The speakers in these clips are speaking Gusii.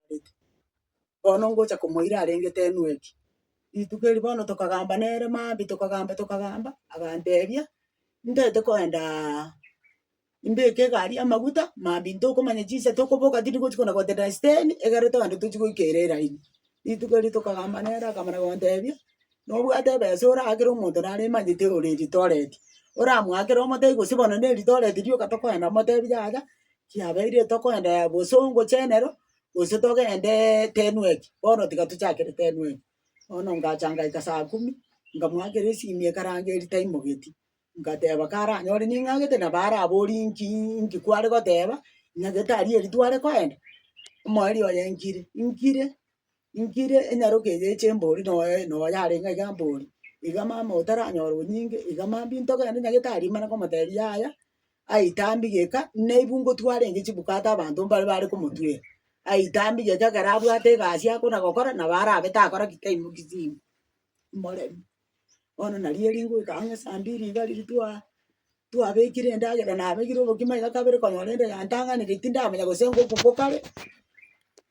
arenge. Bono ngocha komoira arengete enwe eki. Rituko eri bono tokagamba nere maambia tokagamba tokagamba, agantebia, ndete koendaa mbeke egari amaguta maambia ntokomanya chinsa tokoboka tindi gochi kona gotenena esiteni, egere toende tochi goika ere eraini. Rituko erio tokagamba nere akamana gontebia. Nobwate ebesa oraakere omonto naremanyete ore ritoreti, oramoakere omotebi gose bono ne ritoreti rioka tokoenda omotebi yaya kiabeire tokoenda yaya gose ongochene ero gose togendee tenweki, bono tiga tochakere tenweki. Bono ngacha ngaika saa kumi, nkamoakera esimi ekaranga eri taimogetie, ngateba karanyore ning'agete nabo araborie inki inki kware goteba, ing'agete aria eri tware koenda? Omoerio oye nkire, nkire. Inki ere enyaroke eye eche mbori noyo noyo yare ng'a iga mbori, iga mama otaranyora onyinge, iga mambia intoke naende nyagete aria imana komotebi yaya, aitambi geka nabu ngotwara enke chibukate abanto mbare bare komotwera, aitambi geka ekero abwate egasi akona gokora nabo arabe takora ki taimoki chinko, imoremi. Bono nari eri ngoika ang'e esaa mbili iga riria twa twabekire endagera nabegire obokima iga kabere konyora ende yantang'anire tindamanya gose ngoku ngokare.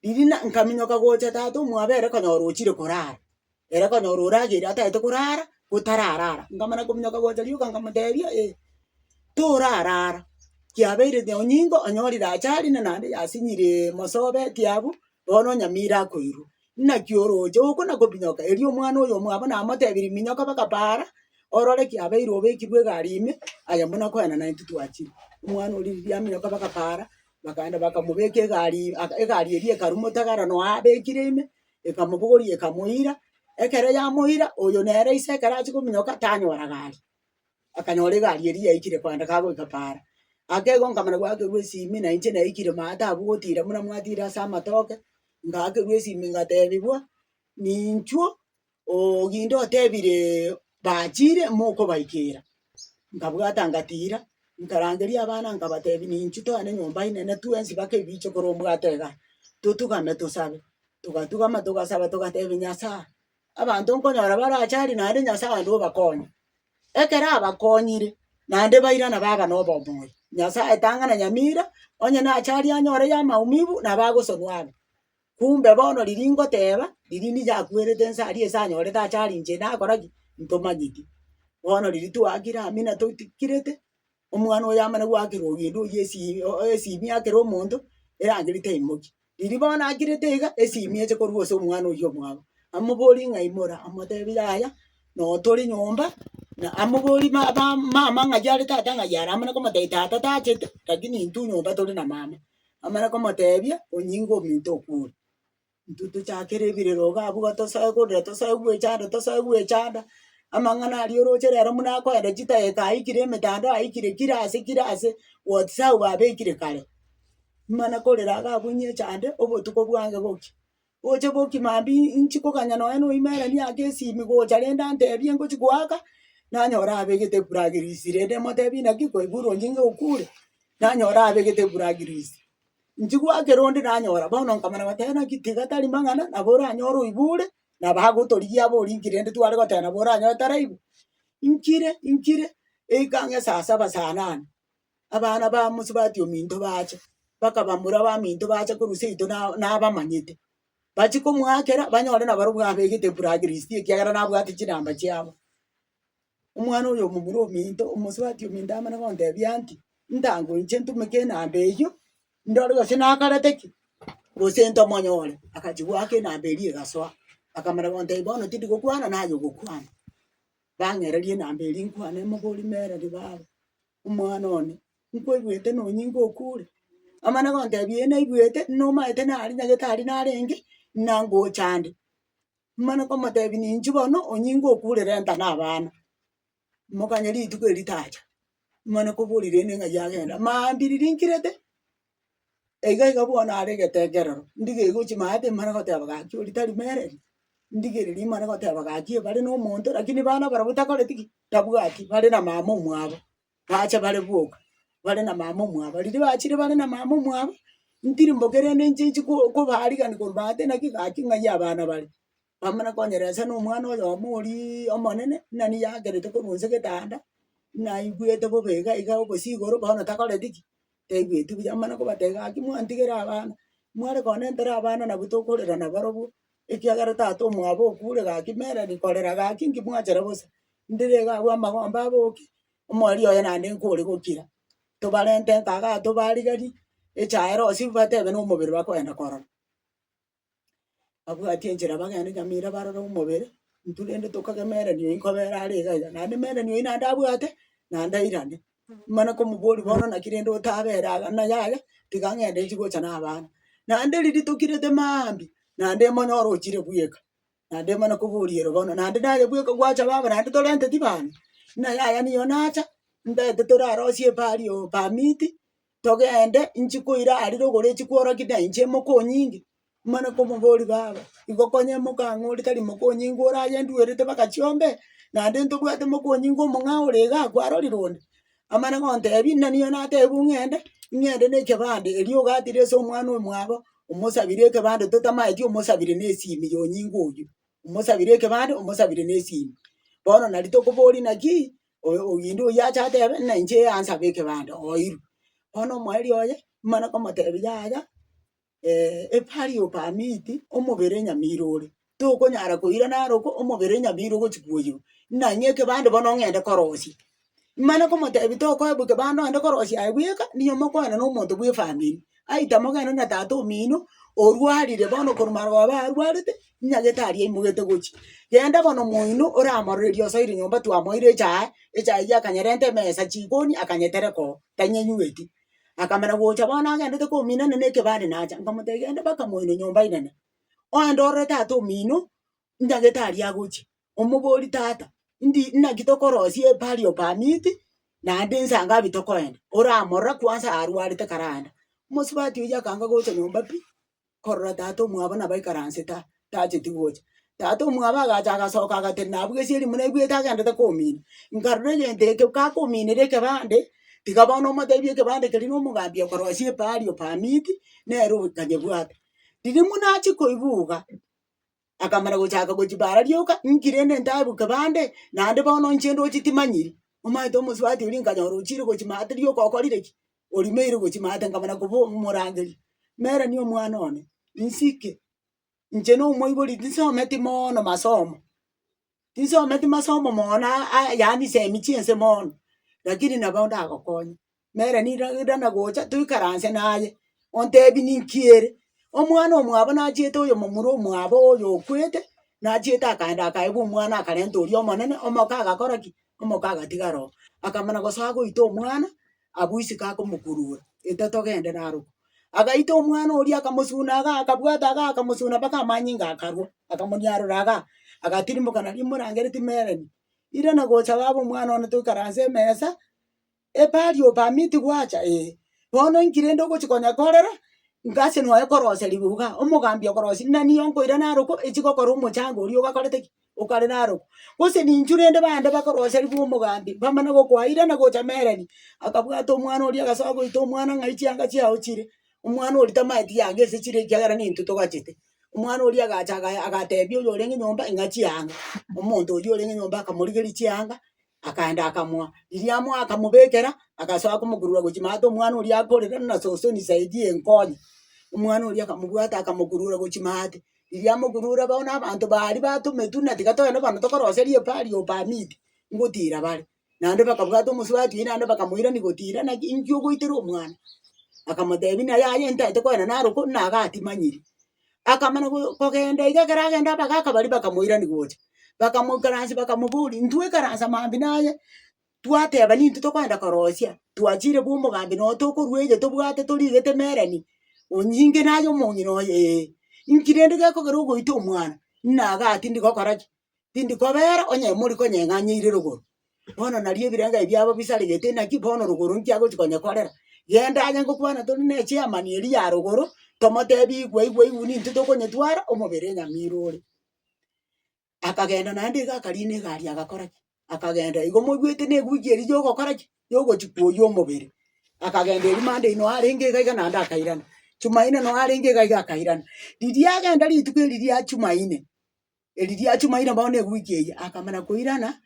Riria na nkaminyoka gocha tata omwabere konyora ochire korara, ere konyora orageire atagete korara gotarara ara. Nkamana kominyoka gocha rioka nkamotebia eh, torara ara, kiabeire na onyingo onyorire achari na naende yasinyire masoba ekiabu, bono onyamira akoirwa. Naki oroche okona kominyoka, erio omwana oyo omwabo namotebirie minyoka baka paara, orore kiabeire obekirwe egari ime, aye buna koenana intwe twachire. Omwana oria riria aminyoka baka paara, Bakaenda bakamobeka egari aka egari eria ekarumwa otagara nonya abekire ime, ekamobogoria ekamoira, ekero yamoira oyo nere ise ekero achia kominyoka tanyora gari, akanyora egari eria yaikire kogenda kagoika paara. Akegoka nkamanya gwakerwa esimi na inche naikire maa taba ogotira buna mwatira ase amatoke, ngakerwa esimi ngatebigwa ninchuo. Oginde otebire bachire mokobaikera. Nkabwata ngatira, nkarangeria abana nkabatebia ninchi toane nyomba inene twensi baka ebiche kore obwate iga, totugame tosabe. Togatugama togasaba togatebia Nyasae, abanto nkonyora barache aria naende Nyasae ande obakonye. Ekero abakonyire, naende bairana baba na obomoyo. Nyasae tang'ana nyamira, onye nache aria anyore ya maumibu, nabo agosonwa abe. Kumbe bono riria ngoteba, riria nichakwerete inse aria ase anyorete ache aria inche nakora ki? Ntomanyeti. Bono riria twakire amo natotikirete, omwana oyo amana goakera ogenda oywo esi o- o- esimi akere omonto, erangeri teimoki. Riria bono akirete iga, esimi eche korwa ase omwana oywo omwabo, amoborie ng'a imora, amotebi yaya, noo tore nyomba, na amoborie ma- ba- mama ng'ai are tata ng'ai are amana komotebia tata tachete, lakini intwe nyomba tore na mama. amare komoteebia, onyinge ominto okwo ore. Intwe tochakere ebirero iga abwo iga tosoe korira, tosoe gwecha ande, tosoe gwecha ande, amang'ana aria oroche rero buna akoenda chidageka aikire emetandao aikire kira ase kira ase, whatsapp babekire kare. Mana korera iga abwo onyiecha ande, obotuko bwange bokie, Gocha boki mambia inchi koganya nonye na oime ere niake esimi gocha rende antebie ngochi goaka, nanyore abegete ebura grease rende motebie naki kwaigure onye nigo okure, nanyore abegete ebura grease. Inchi goakera onde nanyora bono nkamanya goteba naki tiga tari mang'ana nabo oranyore oibure nabo agotorigia aba orinki rende tware goteba nabo oranyore taraibwa. Inkire inkire eikang'a esasaba saa nane. abana bamosubati ominto bacha, bakabamura baminto bacha korwa seito na nabamanyete. Bachi komoakera banyore nabarobwo abegete black list ekiagera nabwate chinamba chiabo. Omwana oyo omomura ominto omosubati ominto amana gontebia nki, ntangoiche ntumeke enamba eyio, ndore gose nakarete ki, gose ntomonyore. Akachi goaka enamba eria egasoa, akamana gontebi bono tindi gokwana naye ogokwana. Bang'ereria enamba eria nkwane moborie mereri baaba. Omwana one, nkwebuete nonyinga okure? Amana gontebia ee naigwete, nomaete nare nyagetari narenge, nangocha ande. Mana komotebi ninchi bono onyinge okure renta na abana. Mokanye rituko eritacha, mana koborire ere ng'ai agenda. Maambiriri nkirete. Eiga iga bono are egetekerero, ndigeirwe chimaye timare goteba gaki oria tari mereri, ndigereria imare goteba gaki bare na omonto lakini bana barabwo takoreti ki? Tabwati bare na mama omwabo, bache bare boka bare na mama omwabo. Riria bachire bare na mama omwabo, ntiri mboka erende inche inchi ko- kobarigani korwate naki gaki ng'ai abana bare. Bamana konyeresa na omwana oyomo oriiii omonene, nani yagerete korwa inse getanda, naigwete bobe iga iga obosi igoro bono takoreti ki? Taigweti buya amana kobatebia gaki mwantigera abana, mware konya nentera abana nabwo tokorera na barobwo, ekiagera tata omwabo okure gaki mere rikorera gaki inki mwachera bosa, ndire iga abwo amagombe aboke, omori oye naende nkore gokira, tobarente nkaga tobarigari, echae rosiu batebe nomobere bakoenda korora. babwate enchera bagende nyamira barore omobere, intwe rende tokagemerani oyi nkobera are iga iga, naende emerani oyi naende abwate, naende airane. Nimana komoboria bono naki rende otabera iga ng'a yaya, tiga ng'ende nchi gocha na abana. Naende riria tokirete maambia, naende emonyora ochire bweka, naende emana koboria ere bono, naende naye bweka gwacha baba naende torenteti bana, ng'a yaya nigo nacha, ntaete torarosie epaari oo permit, togende nchi koira aria rogoro echi kworokia na inche mokonyinge. Mane komobori baba igo konye mokang'u oria tari mokonyinge ore aye nduerete baka chiombe naende ntobwate mokonyinge omong'ao ore iga akwarorire onde. Amana gontebi naniyo natebiwu ng'ende, ing'ende na ekebande erio ogatire ase omwana oyo mwabo, omosabire ekebande totamaeti omosabire na esimi ya onyinge oyio. Omosabire ekebande, omosabire na esimi. Bono nari tokobori naki, oyo oginde oyio ache atebe ng'a inche yansabe ekebanda oirwe. Bono omoerio oye mare komotebia yaya a party of a meat omobere nyamira ore, tokonyara koira naro ko omobere nyamira ogochi koirwa, ng'a ng'e ekebanda bono ong'ende korosia. Mare komotebia tokoewa ekebanda ogende korosia aye bweka, nigo mokwana nomonto bw'efamiri. aita mogenda na tata omino, orwarire bono korwa marogoba arwarete, nyagete aria aimogete gochia. Genda bono moino oramororerie osoire nyomba twamoire echae, echae eyio akanyerenta emesa, chikoni akanyetereka oo, tanyenyueti. Akamana gocha bono agendete kominana na ekebande nacha, nkamotebia genda mpaka moino nyomba inene, oende orore tata omino, ndagete aria agochia, omoborie tata ndi naki tokorosia epari o permit, naende inse ngapi tokoenda, oramorore kwansa arwarete kare ande. Omosubati oyio akanga gocha nyomba pi, korora tata omwabo nabo aikaransete aa, tacheti gocha. Tata omwabo agacha agasoka agatenena nabu gesieri buna aigwete agendete komina, nkarora egento ekio kakominera ekebande, tiga bono omotebia ekebande keria na omogambi okorosia epari o permit, nere obo tanyebwate. Riria buna achia koigwa iga, akamana gochaka gochipaara rioka, inki rende ntaebuke bande, naende bono inche ndoche timanyiri. Omanyete omosubati oria nkanyora ochiire gochimata rioka okorire ki? orimeire gochimata nkamana koba omorangeria. Meranie omwana one, insike, inche nomoibori tinsometi mono masomo, Inse ometi masomo mono na aa yaani semi chiense mono, lakini nabo ndagokonye. Nere nira rira nagocha toikaranse naye, ontebi ninki ere? Omwana omwabo nachiete oyomomura omwabo oyo okwete, nachiete akaenda akaebwa omwana akarenta oria omonene, omoka agakora ki? Omoka agatigara oo. Akamana gose agoita omwana. Abwo isiko akomokurura, Eta togende narokwo. Agaita omwana oria akamosuna iga, akabwata iga, akamosuna mpaka amanyinga akarwa, akamonyarora iga, agatirimoka nario imorangeretie Melanie. Irana gocha baba omwana one toikaranse emesa, Epari o permit gwacha? Ee. Bono inki rende ogochi konya korera? Inga ase noe koroseriwa iga, omogambi okorosiri nani onkoira narokwo, echi gokora omochango oria ogakorete ki? okare narokwa, gose ninchu rende bande bakoroserigwa omogambi, bamana gokoaira na gocha mereri, akabwata omwana oria agasoa goita omwana ng'ai chianga chiao chire, omwana oria tamaeti yanga ase chire ekiagera nintwe togachete, omwana oria agacha agaya agatebia oyorenge nyomba ing'a chianga, omonto oyio orenge nyomba akamorigeria chianga. Akaenda akamoa riria amoa akamobekera, agasoa komokurura gochia maate omwana oria akorera buna sosoni saidi eye nkonye. Omwana oria akamobwata akamokurura gochia maate, riria amokurure bono abanto ba aria batometwe buna tiga toende bano tokoroserie pari or permit ngotira bare. Naende bakabwata omosubati oye naende bakamoirani gotira naki inki ogoitera omwana. Akamotebi buna yaya ntete koenda naroku buna iga atimanyiri. akamana go kogenda iga ekero agenda abagaka baria bakamoirani gocha, bakamoikaransia bakamoboria, intwe ikaransa mambia naye, twateba nintwe tokoenda korosia, twachire bwa omogambi noo tokorwa eye tobwate torigete emereni, onyinge naye omong'ina oye ee, inki rende gekogera ogoita omwana? Nnaga atindigokora ki? tindi kobeera onye mori konyeng'anyeire rogoro, bono nario ebirenga ebi biabo bisaregete naki bono rogoro nkiagochi konyekorera. Genda aye ngokwana tori ne chairman eria ya rogoro, tomotebi igwe igwe igwe nintwe tokonyetwara omobere Nyamira ore. Akagenda naende iga akariina egari agakora ki? Akagenda igo moigwete na ewiki eria yogokora ki? Yogochi kwoyia omobere. Akagenda eria Monday noo arenge iga iga naende akairana, Jumaine noo arenge iga iga akairana. Riria agenda rituko eri ria Jumaine, Eri riachumaire bao na ewiki eyio, akamana koirana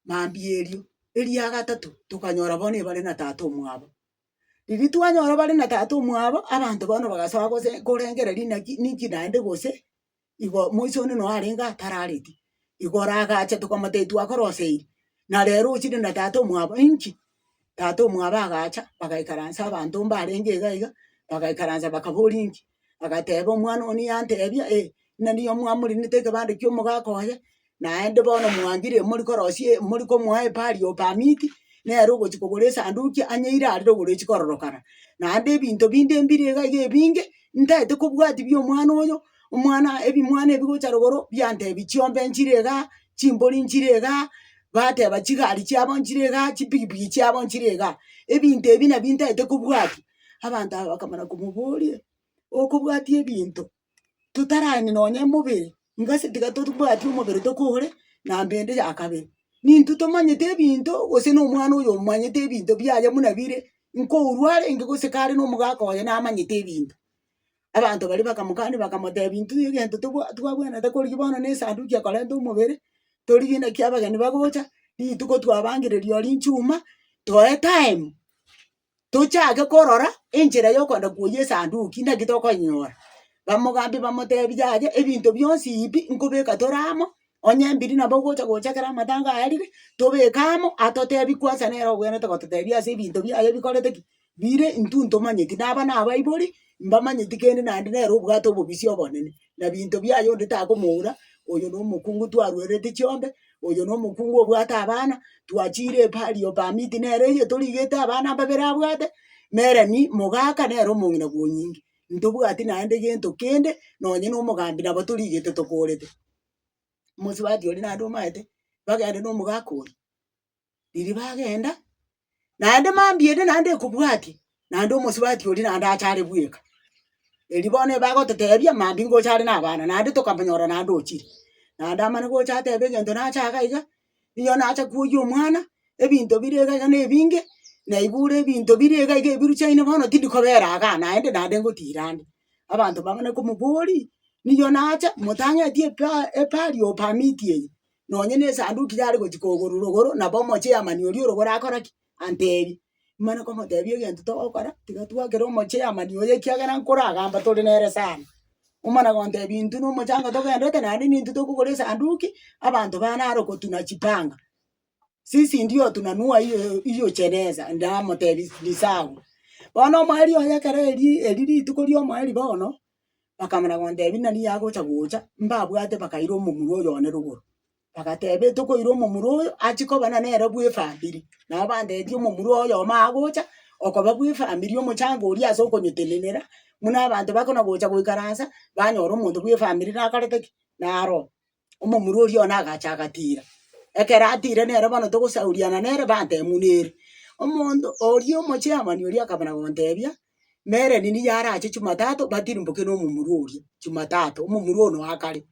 mambia erio. Eria gatato, tokanyora bono ebare na tata omwabo. Riria twanyora bare na tata omwabo, abanto bono bagasoa gose korengera rinaki ninki naende gose, igo moiso one noo arenge atarareti, igoro agacha tokamotebia twakoroseiri, na rero ochire na tata omwabo inki? Tata omwabo agacha, bagaikaransa abanto mbarenge iga iga, bagaikaransa bakaboria inki, agateba omwana one yantebia eh, ng'a nigo mwamorenete ekebande kia omogaka oye, naende bono mwangire mori korosia e- mori komoa epari of permit, nere ogochi kogora esanduki anyeire arire ogoro echi kororokana. Naende ebinto binde mbire iga iga ebinge, ntaete kobwatia bia omwana oyo, omwana ebimwana ebi gocha rogoro biantebi chiombe nchire igaa, chimbori nchire igaa, bateba chigari chiabo nchire igaa, chipigipigi chiabo nchire igaa. Ebinto ebi nabi ntaete kobwatia. Abanto aba bakamana komoboria, okobwatia ebinto totarani nonye mobere, ingase tiga totobwati omobere tokore na mbende ya kabere. Nintwe tomanyete ebinto gose na omwana oyo omanyete ebinto biaye buna bire, nkourwa arenge gose kare na omogaka oye namanyete ebinto. Abanto baria bakamokania bakamotebia, intwe egento tobwa twabwenerete korigia bono na esanduki ekorente omobere, torigie naki abageni bagocha, rituko twabangereria oria chuma, toe time, tochake korora enchera yokoenda koyia esanduki naki tokonyora. Bamogambia bamotebia yaya ebinto bionsi bi nkobeka tore amo, onye mbiri nabo ogocha gocha ekero amatanga aerire, tobeke amo, atotebie kwansa nere obwenerete gototebia ase ebinto biaye bikorete ki. Riire intwe ntomanyeti, na aba nabaibori, mbamanyeti kende naende nere obwate obobisia obonene, na binto biaye onde takomoura, oyo nomokungu twarwereti chiombe, oyo nomokungu obwate abana, twachiire epahali ya permit nere eye torigete abana babere abwate, na eremi mogaka nere omong'ina bw'onyinge. Ntobwati naende gento kende, nonye na omogambi nabo torigete tokorete. Omosubati oria naende omaete, bagende na omogaka oria. riria bagenda, naende mambia ende naende ekobwatia, naende omosubati oria naende ache are bweka. Erio bono eba agototebia mambia ingocha are na abana, naende tokamonyora naende ochire. Naende amana gocha atebe egento nache iga iga, ninyowe nacha koyia omwana, ebinto bire iga iga na ebinge, naibure ebinto bire iga iga ebiru chiaino bono tindi kobera iga naende, naende ngotira ande. Abanto bang'ana komoboria, ninyowe nache, motang'eti epa epari of permit eye. nonye nesanduki yare gochia kogoro rogoro nabo omochie Yamani oria orogoro akora ki? Antebi. Nimana komotebia egento togokora, tiga twakere omochie Yamani oyo ekiagera nkoragamba tore nere sana. Omana gontebi intwe na omochango togenderete naende nintwe tokogora esanduki, abanto bana aro kotuna chipanga. Sisi ndio otuna nua iyo iyo cheneza, ndamotebi ni sawa. Bono omweri oye ekero erii eri rituko riomoeri bono, bakamana gontebia, Nani yagocha gocha? Mbabwate bakaira omomura oyo one rogoro. Bagateba, Etokoira omomura oyo achie koba na nere bw'efamiri. Nabo bantebirie omomura oyomo agocha okoba bw'efamiri omochango oria ase okonyetenenera, buna abanto bakona gocha goikaransa, banyora omonto bw'efamiri nakorete ki? Naroe. omomura oria one agacha agatira. Ekero atire nere bono togosauriana nere batemunere. Omonto oria omochairman oria akabana gontebia, mere nini yarache Jumatatu batirimboke na omomura oria Jumatatu, omomura one oa kare.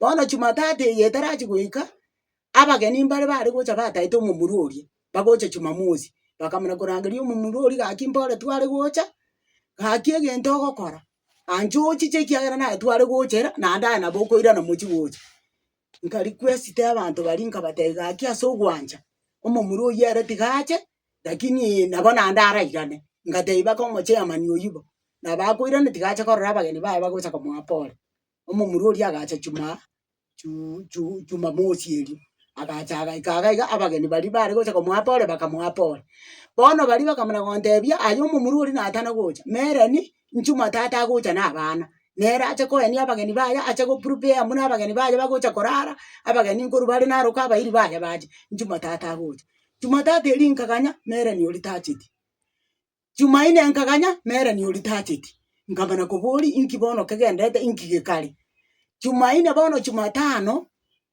Bono Jumatatu eye etarachi goika, abageni mbare bare gocha bataete omomura oria, bagocha Jumamosi, bakamana korangeria omomura oria gaki mpore tware gocha, gaki egento ogokora. Anche ochiche ekiagera naetware gocha era, naende aye nabo okoirana mochie gocha. Nkarikwesiti abanto baria nkabatebia gaki ase ogwancha, omomura oyio ere tiga ache, lakini nabo naende arairane. Ngatebia baka omochairman oyio bo, nabo akoirana tiga ache korora abageni baye bagocha komoa pole. Omomura oria agacha chumaaaa. Chu- chu- Chumamosi erio agacha agaika iga iga abageni baria bare gocha komoapa ore bakamoapa ore. Bono baria bakamana gotebia aye omomura oria natana gocha, mereni nchuma tata agocha na abana, nere ache koenia abageni baye ache go prepare buna abageni baye bagocha korara, abageni nkorwa bare naroka abairi baye bache, nchuma tata agocha. Chuma tata eria nkaganya mereni oria tacheti. Jumaine nkaganya Mereni oria tacheti, nkamana koboria inki bono kegendete inki gekare. Jumaine bono Jumatano,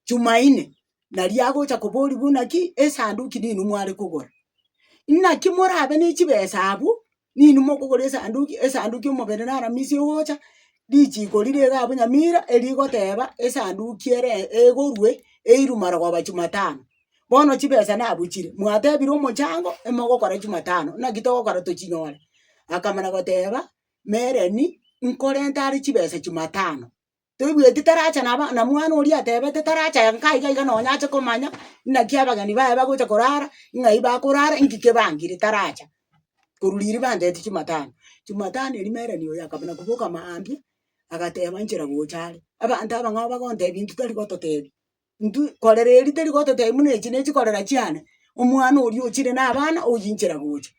Jumaine nari agocha koboria buna ki esanduki nini mware kogora. Naki morabe ne chibesa abwo, nini mokogora esanduki, esanduki omobere naramisi ogocha, richiko rire iga abwo nyamira erigoteba esanduki ere egorwe eirwe marogoba Jumatano. Bono chibesa nabuchire, mwatebire omochango emogokora jumatano, naki togokora tochinyore. Akamana goteba, Mereni, nkorente are chibesa jumatano. Toigweti taracha naba na mwana oria atebete taracha ya nka iga iga nonya ache komanya naki abageni baye bagocha korara, ng'ai bakorara, nki kebangire taracha. Korwa riria bantebeti jumatano. Jumatano eria mereni oyo akamana koboka mambia, agateba nchera gocha are. Abanto abang'ao bagontebia nki tari gototebi. intwe korera eeri teri gototebia buna echi ne chikorera chiane, omwana oria ochire na abana oyinchera gocha.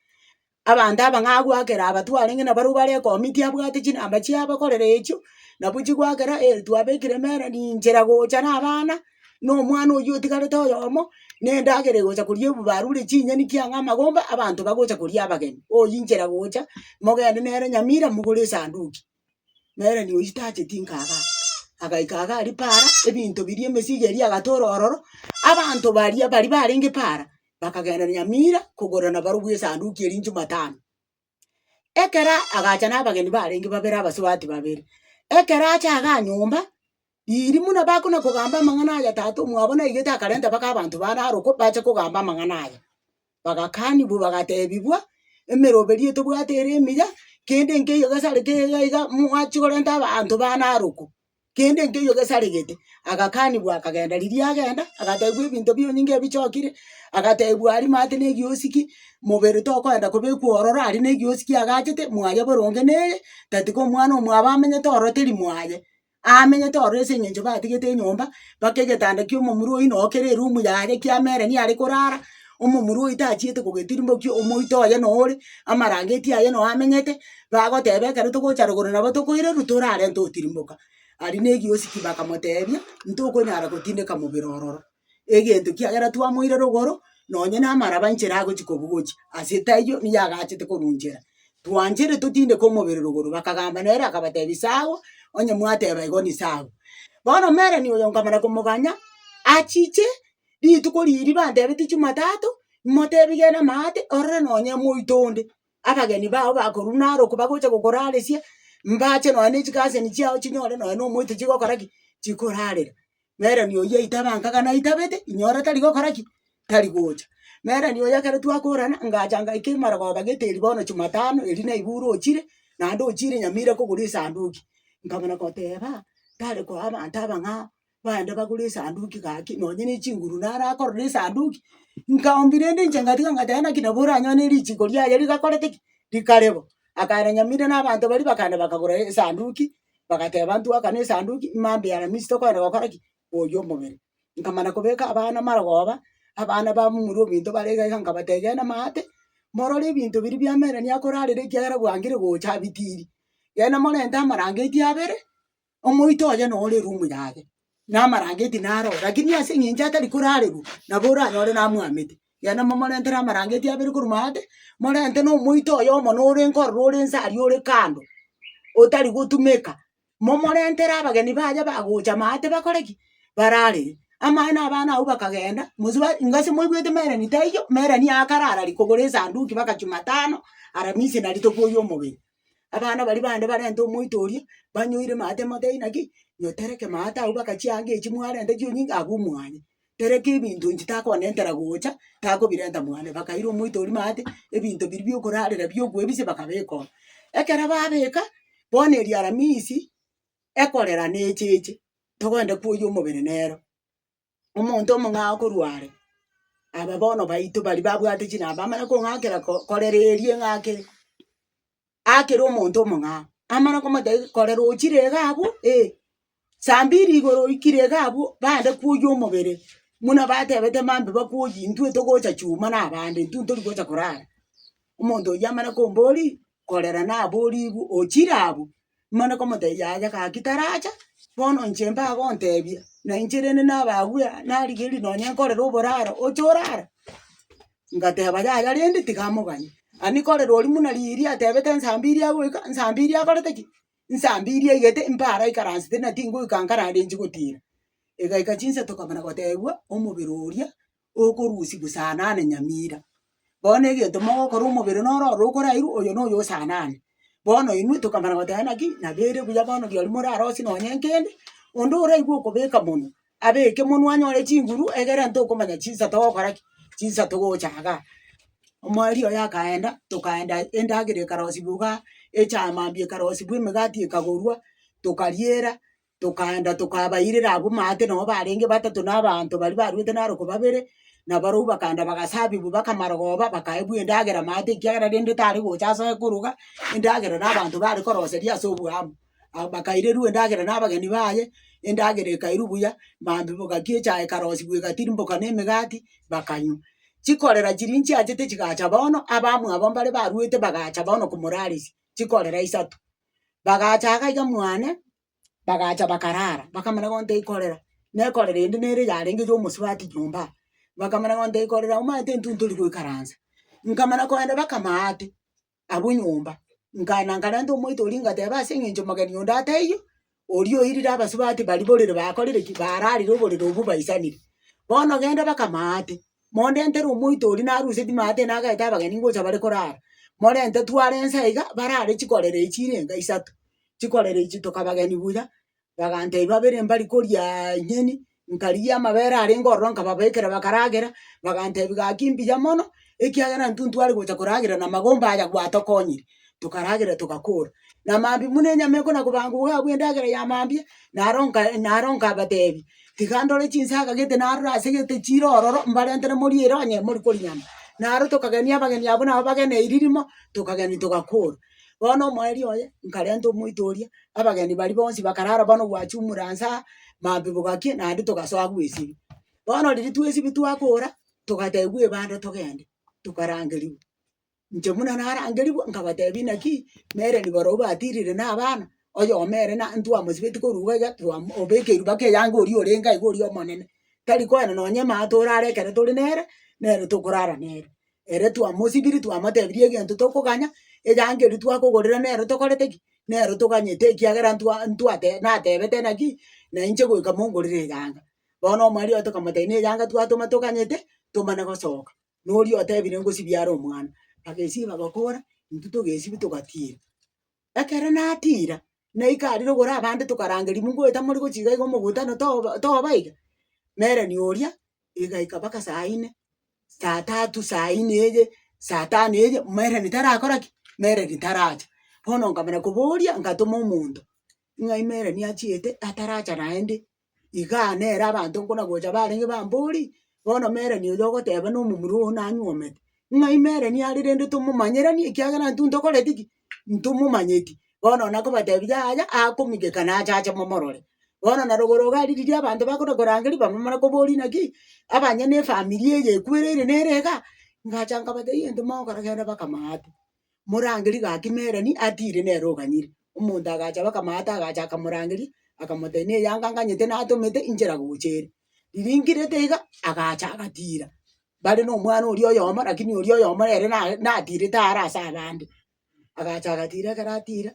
Abanto abang'aa agwakera aba twarenge na barobwo bare ekomiti abwate chinamba chiabo ekorera echio, nabo chigwakera eeri twabekire emere ninchera gocha na abana, na omwana oyio otigarete oyomo, na endagera egocha koria ebu barure chinyeni ki ang'aa amagomba abanto bagocha koria abageni, oyinchera gocha, mogende nere Nyamira mogore esanduki. nere noyio tacheti nkaga aa, agaika iga aria paara, ebinto biria emesigo eria agatora ororo, abanto baria baria barenge paara, bakagenda Nyamira kogorera nabarobwo esanduki eria jumatano. Ekero agacha nabageni barenge babere abasubati babere, ekero acha iga nyomba. Riiri buna bakona kogamba amang'ana aya tata omwabo naigete akarenta mpaka abanto bane aro ko bache kogamba amang'ana aya. Bagakanigwa bagatebigwa, Emeroberi eye tobwate ere emiya, kende nkeiyo gesare keiga iga mwachi korenta abanto bane aro ko, kende nkeiyo gesaregete. Agakanigwa akagenda, riria agenda agatebigwa ebinto bi'onyinge ebichokire, agatebigwa aria mate na egiosiki, mobere tokoenda kobekwa ororo aria na egiosiki agachete, mwaye boronge neye, tatiga omwana omwabo amenyete ororo teri mwaye. Aamenyete ororo ase eng'encho batigete enyomba, mpaka egetanda ki'omomura oyio noo kere erumu yaye kiamera niye are korara, omomura oyio tachiete kogetirimokia, omoito oye noo ore, amarangeti aye noo amenyete, bagoteba ekero togocha rogoro nabo tokoirerwa torarente otirimoka. Aria na egioski bakamoteebia, ntokonyara gotindeka mobere ororo. egento kiagera twamoire rogoro, nonye namaraba enchera agochia kobugochia, ase etaiyo nigo agachete korunchera. Twanchere totindeke omobere rogoro, bakagamba nere akabatebia sawa, onye mwateba igo ni sawa. Bono omerani oyo nkamana komoganya, achiche rituko riria bantebeti Jumatatu, motebi gena maate orore nonye moito onde. Abageni bao bakorwa narokwe bagocha gokoraresia, mbache nonya ne chigasini chiao chinyore nonya na omoito chigokora ki? Chikorarera. Nere ni oyio aitabe anka gana aitabete, inyora tari gokora ki? Tari gocha. Nere ni oyio ekero twakorana, ngacha ngaika emarogooba geteri bono Jumatano, erio naiga orochire, naende ochiire Nyamira kogora esanduki. Nkabana goteba, tare koa abanto abang'ao, baende bagore esanduki gaki, nonye ne chinguru naro akorora esanduki, nkaombia rende inche ngatiga ngoteba naki nabo oranyone richiko riaye rigakorete ki? Rikare bo. Akaenda nyamira na abanto baria bakaenda bakagora esanduki, bagateba ntwaka na esanduki, imambia ya Aramisi tokoenda gokora ki? Koyia omobere. Nkamana kobeka abana marogoba, abana bamomura ebinto bare iga iga nkabatebia genda maate, morore ebinto biria bia Melanie akorarera ekiagera bwangire gocha abitiiri. Genda morente amarangeti abere, Omoito oye nore room yare, namarangeti naro lakini ase eng'encho atari korarerwa nabo oranyore namwamete. Yaani momorentere amarangeti abere korwa maate, morente na omoito oye omo norenko ororo ore inse aria ore kando, otari gotumeka, momorentere abageni baye bagocha maate bakore ki? Bararere. Amae na abana abwo bakagenda, mosubao ingase moigwete mereni taiyo, mereni aakarara rikogoro esanduki baka Jumatano, Aramisi na rituko ya omogeni. Abana baria bande barente omoito oria, banyoire maate mote inaki, nyo tereke maate agwo baka chianga echi mwarenta chio nyinga agwo omwanya. Tereke ebinto inche takonentera gocha, takobirenta mwane. Bakaira omoito oria maate, ebinto biria biokorarera biokoebisa bakabeka oo. Ekero babeka, bono eri aramisi, ekorera necheche, togoenda koyia omobere nero. omonto omong'ao korwa are, aba bono baito baria babwate chinamba amanye kong'akera ko korera eria eng'ake akere omonto omong'ao. Amanye komotebia korera ochire iga abwo eh, saa mbiri igoro oikire iga abwo bande kwoyia omobere muna batebete mambe bakwoyie intwe togocha chuma na abande intwe ntori gocha korara. Omonto oyio amanye komboria korera naborigwe ochire abwo. Mare komotebia aye gaki taracha, bono inche mbagontebia, na inche rende nabagwe narigereria nonye nkorere oboraro oche orare. Ngateba yaya rende tiga amoganye. Ani nkorere oria buna riria atebete nsa mbiri agoika, nsa mbiri akorete ki? Nsa mbiri aigete mbare aikaransete na tingoika nkarara inche gotira. Egaika chinsa tokabana gotebiwa omobere oria okorusia gosanane nyamira. Bono egento mogokora omobere noro oro okorairwe oyo noyo osanane. Bono inwe tokamana goteba naki nabo ere buya bono riaria morarosie nonye nkende, onde oraigwe okobeka monwe, abeke monwe anyore chinguru egere ntokomanya chinsa togokora ki, chinsa togochaga. Omwari oye akaenda, tokaenda endagera ekarosiwa igaa, echama mambia ekarosiwa emegati ekagorwa, tokariera, Tokaenda tokabairera abwo maate, nabo barenge batato na abanto baria baruete naro ko babere, na barobwo bakaenda bagasabigwa bakamarogoba, bakaebwa endagera maate ekiagera rende tare gocha ase ekoroga, endagera na abanto bare koroseria ase oboambu. Aba bakairerwa endagera na abageni baye, endagera ekairwa buya, maambia gaki echae ekarosigwa egatirimboka na emegati, bakanywa. Chikorera chiria nchiachete chigacha bono, abamwe aba mbare baruete bagacha bono komoraresia, chikorera isato. Bagacha iga iga mwane, bagacha bakarara, bakamanya bono ntekorera, nekorera ende nere yarenge ya omosubati nyomba aa. Bakamanya bono ntekorera omanyete intwe ntori goikaransa. Nkamanya kogenda baka amaate abwo nyomba, nkaenda nkarenta omoito oria ngateba aseng'encho mogeni onde ataiyo. Oria oirire abasubati baria borere bakorire ki? Baararire oborere obwo baisanire. Bono genda baka amaate, mondentere omoito oria naruseti maate nagaete abageni ngocha bare korara, morente tware inse iga barare chikorera echi chire enga isato, chikorera echi toka abageni buya, bagantebia babere mbari koriaa ing'eni, Nkarigia amabere arenge ororo nkababeekera bakaragera, bagantebi gaki mbuya mono, ekiagera intwe ntware gocha koragera na magomba aya gwatokonyire, tokaragera togakora. Na mambia buna enyama ekona kobangwa iga abwo endagera ya mambia, naro nka naro nkabatebi, tiga ndore chinsaga gete narora ase gete chire ororo mbarentere morie ere onye morikori nyama. Naro tokagenia abageni abwo nabo bageneirie rimo, tokageni togakora. Bono omoerio oye nkarenta omoito oria, abageni baria bonsi bakarara bono gwachumure anse aa, mabibo gaki naende togasoa agwo esiri. Bono riria twesibia twakora, togatebiwa ebanda togende, tokarangeriwa. Inche buna narangeriwa nkabatebia inaki, mere nibarobwo batirire na abana, oyoma ere na ntwamosibeti korwa iga iga twamo obeke riba ke eyange oria orenge iga oria omonene, tari koenda nonye emato orare ekero tore nere, nere tokorara nere. Ere twamosibirie, twamotebirie egento tokoganya, eyankeri twakogorera nero tokorete ki? Nero toganyete ekiagera ntwa ntwate natebete naki, nainche goika mongorere eyanga. Bono omwariaye tokamotebia neyanga twatoma toganyete, tomana gosoka. Noria otebire ngosibia are omwana. Bagesiba bakora, intwe togesibia togatiira. Ekero natiira, naika aria rogoro abande tokaranga rimwe ngoeta more gochia iga iga omogutano ano toba toba iga, na erani oria egaika mpaka saa ine, saa tatu, saa ine eye, saa tano eye, maereni tarakora ki? maereni taracha. Bono nkamanya koboria, ngatoma omonto, ng'a imereni achiete ataracha naende, Igaa nere abanto nkonagocha barenge bambori, bono meroni oyo ogoteba na omomura oo nanyuomete, ng'ai meroni are rende tomomanyeranie ekiagera intwe ntokoreti ki? Ntomomanyeti. Bono nakobatebia yaya akomigeka nache ache momorore. Bono na rogoro iga aria riria abanto bakona korangeria bamomana koboria naki, abanye na efamiri eye ekwereire nere iga, ngacha nkabatebia gento mogokora genda baka maate. Morangeri gaki Meroni atiire nere oganyire. Omonto agacha bakamata agacha akamorangeria, akamotebia na eyanga nganyete natomete inchera gocha ere. Riria nkirete iga, agacha agatiira. Bare na omwana oria oyomo lakini oria oyomo ere naye natirete are ase abande. Agacha agatiira ekero atiira,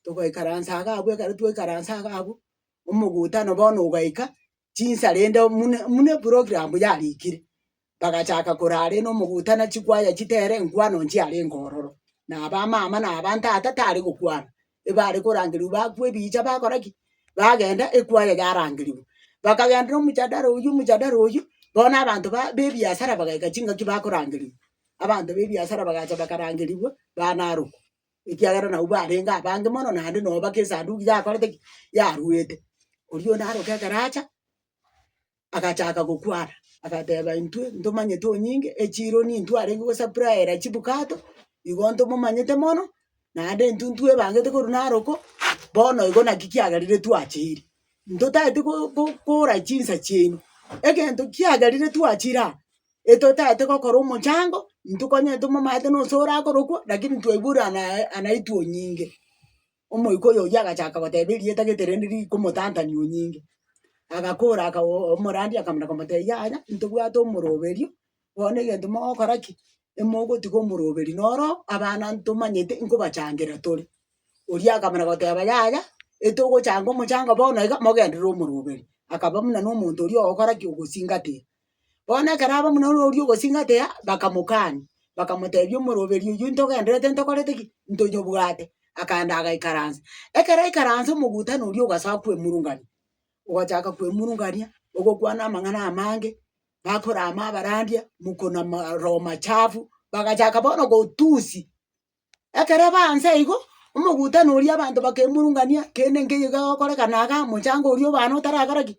togaikaransa iga abwo ekero twaikaransa iga abwo, omogutano bono ogaika, chinsa rende mune mune program yarikire, bagachaka korare na omogouta na chikwaya chitere enkwano inche yare enkororo. Na abamama na abantata tare gokwana, ebare korangerigwa bakwa ebicha bakora ki? bagenda ekwaya yarangerigwa. Bakagenda na omojadara oywo omojadara oywo, bono abanto ba bebiasara bagaika chingaki bakorangerigwa. Abanto ba ebiasara bagacha bakarangerigwa, banarokwa. ekiagera nabwo barenge abange mono, naende noo mpaka esanduki yakorete ki, yaruete. Oria onde aroka ekeracha, agachaka gokwana, agateba intwe ntomanyete onyinge, echironi intwe arenge gosapurayera chibukato, igo ntomomanyete mono, naende intwe ntwebangete korwa naro ko, bono igo naki kiagerire twachiire. Ntotagete go- go- gokora chinsa chiaino, egento kiagerire twachire aa, etotagete gokora omochango, ntokonyete omomalato na ose orakorokwa, lakini twaigure anaye anaitwa onyinge. Omoika oyo oyio agachaka goteba erieta gete rende rikomotantania onyinge, agakora aka oo omorandi akamana komotebia yaya, ntobwate omoroberio, bono egento mogokora ki? emogotiga omoroberi noro abana ntomanyete nkobachangera tore. Oria akamana goteba, Yaya, etogochanga omochanga bono iga, mogenderere omoroberi. Akaba buna nomonto oria ogokora ki? Ogosingatia. Bono ekero aba buna noria ogosingatia, bakamokani, bakamotebia omoroberi oyio ntogendererete ntokorete ki? Ntonyobwate. Akaenda agaikaransa. Ekero aikaranse omogutano oria ogasoa kwemurungani, ogachaka kwemurungania, ogokwana amang'ana amange, bakorama abarandia, mokonama roho machafu, bagachaka bono gotusi. Ekero aba anse igo, omogutano oria abanto bakemurungania kende nkeiyo gegokorekana iga mochango oria obana otarakora ki?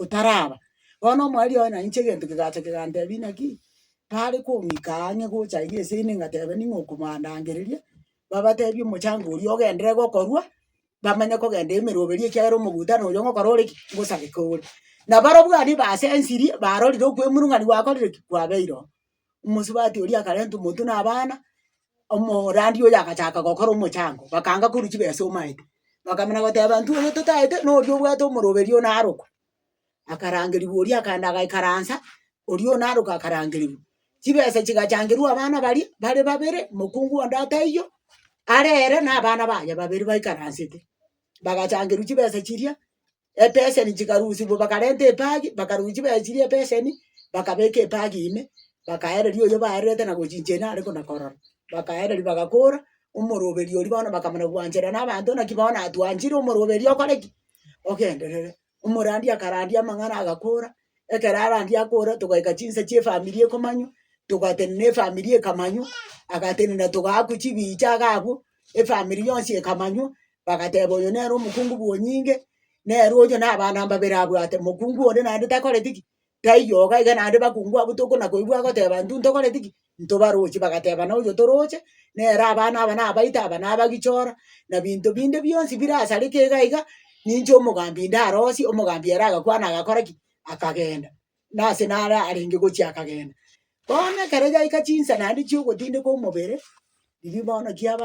Otaraba. Bono omwari oye na inche egento kegacha kegantebia naki, tare komoika ang'e gocha iga ase ime ngateba ning'o okomandangereria, babatebie omochango oria ogenderere gokorwa, bamanye kogenda emeroberio ekiagera omogutano oria ngokora ore ki? Ngosareke ore. Na barobwo abwo basensirie barorire okwemurungania gwakorire ki? Kwabeire oo. omosubati oria akarenta omonto na abana, omorandi oyo agachaka gokora omochango, bakanga korwa chibesa omaete, bakamanya goteba intwe oyo totaete na oria obwate omoroberi one arokwe. Akarangeriwa oria akaenda agaikaransa, oria one arokwe akarangeriwa. Chibesa chigachangerwa abana baria bare babere, mokungu onde ataiyo, arere na abana baye babere baikaransete, bagachangerwa chibesa chiria. ebeseni chikarusigwa bakarenta ebagi bakarusia chibaechirie ebeseni bakabeka ebagi ime bakaereria oyo baererete na gochincha ere nare kona korora bakaereria bagakora omoroberi oria bono bakamanya gwancherera na abanto naki bono atwanchire omoroberi okore ki? ogenderere. Omorandi akarandia amang'ana agakora ekero arandia akora togaika chinsa chia efamiri ekomanywa togatenena efamiri ekamanywa agatenena togaakwa chibiicha agakwa efamiri yonsi ekamanywa, bagateba oyo nere omokungu bw'onyinge, nere oyo nabana mbabere abwate, mokungu onde naende takoreti ki? Taiyo iga iga naende bakungu abwo tokona koigwa agoteba intwe ntokoreti ki? Ntobaroche, bagateba na oyo toroche nere abana aba nabaito aba nabagichora, na binto binde bionsi birasareke iga iga, ninche omogambi ndarosie, omogambi ere agakwana agakora ki? Akagenda. Nase nare arenge gochia akagenda. Bono ekero yaika chinsa naende chi'ogotindeka omobere, riria bono kiaba.